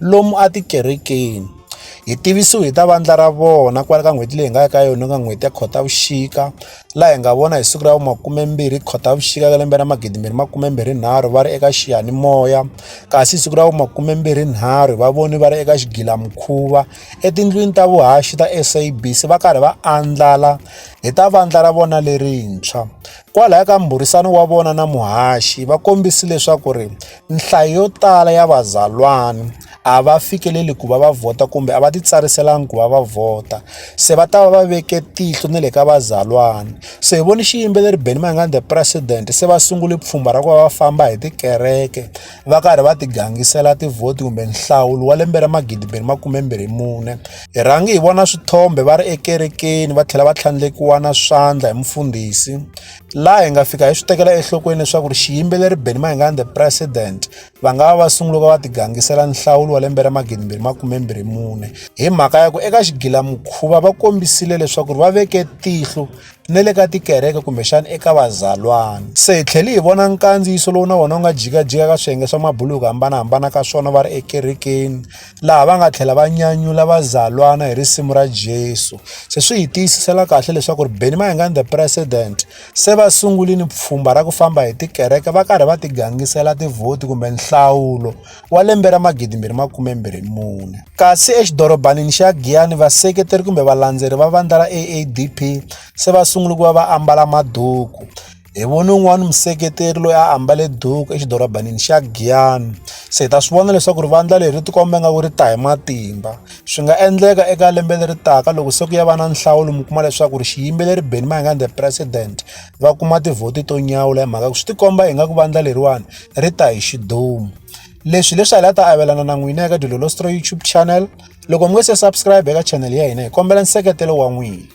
lomu a tikerekeni hi tivisiwe hi ta vandla ra vona kwala ka n'hweti leyi hi nga ya ka yona ka n'hweti ya khotavuxika laha hi nga vona hi siku ra vumakumembirhi khotavuxika ka lembe ra magidimbirhi makumembirhi nharhu va ri eka xiyanimoya kasi siku ra vumakumembirhi nharhu va voni va ri eka xigilamukhuva etindlwini ta vuhaxi ta sabc va karhi va andlala hi ta vandla ra vona lerintshwa kwalaya ka mbhurisano wa vona na muhaxi va kombisi leswaku ri nhlayo yo tala ya vazalwana a va fikeleli ku va va vhota kumbe a va titsariselanga ku va va vhota se va ta va va veke tihlo ni le ka vazalwana se hi voni xiyimbeleri benny mayengani the president se va sungule pfhumba ra ku va va famba hi tikereke va karhi va tigangisela tivhoti kumbe nhlawulo wa lembe ra magidi mbirhi makumembirhi mune hi rhangi hi vona swithombe va ri ekerekeni va tlhela va tlhandlekiwa na swandla hi mufundhisi laha hi nga fika hi swi tekela enhlokweni leswaku ri xiyimbeleri benny mayengani the president va nga va va sungula va va tigangisela nhlawulo wa lembe ra magidimbirhi makumembirhi mune hi mhaka ya ku eka xigilamukhuva va kombisile leswaku ri va veke tihlo ni le ka tikereke kumbexana eka vazalwana se hi tlhele hi vona nkandziyiso lowu na wona wu nga jikajika ka swiyenge swa mabulu hi ku hambanahambana ka swona va ri ekerekeni laha va nga tlhela va nyanyula vazalwana hi risimu ra Jesu. Se swi hi tiyisisela kahle leswaku ri Benny Mayengani the president se va sungulini pfhumba ra ku famba hi tikereke va karhi va tigangisela tivhoti kumbe nhlawulo wa lembe ra magidi mbirhi makume mbirhi mune kasi exidorobanini xa Giyani vaseketeri kumbe valandzeri va vandla ra AADP se va sungula ku va va ambala maduku hi vone un'wana museketeri loyi a ambale duku exidorobanini xa giyani se hi ta swi vona leswaku ri vandla leri tikomba nga ku ri ta hi matimba swi nga endleka eka lembe leri taka loko se ku ya va na nhlawulo mi kuma leswaku ri xiyimbeleri beni mayingani the president va kuma tivhoti to nyawula hi mhaka ku swi tikomba hi nga ku vandla leriwani ri ta hi xidumu leswi leswi a hi la ta avelana na n'wina eka dilolostro youtube channel loko mi nge se subscribe eka channel ya hina hi kombela nseketelo wa n'wina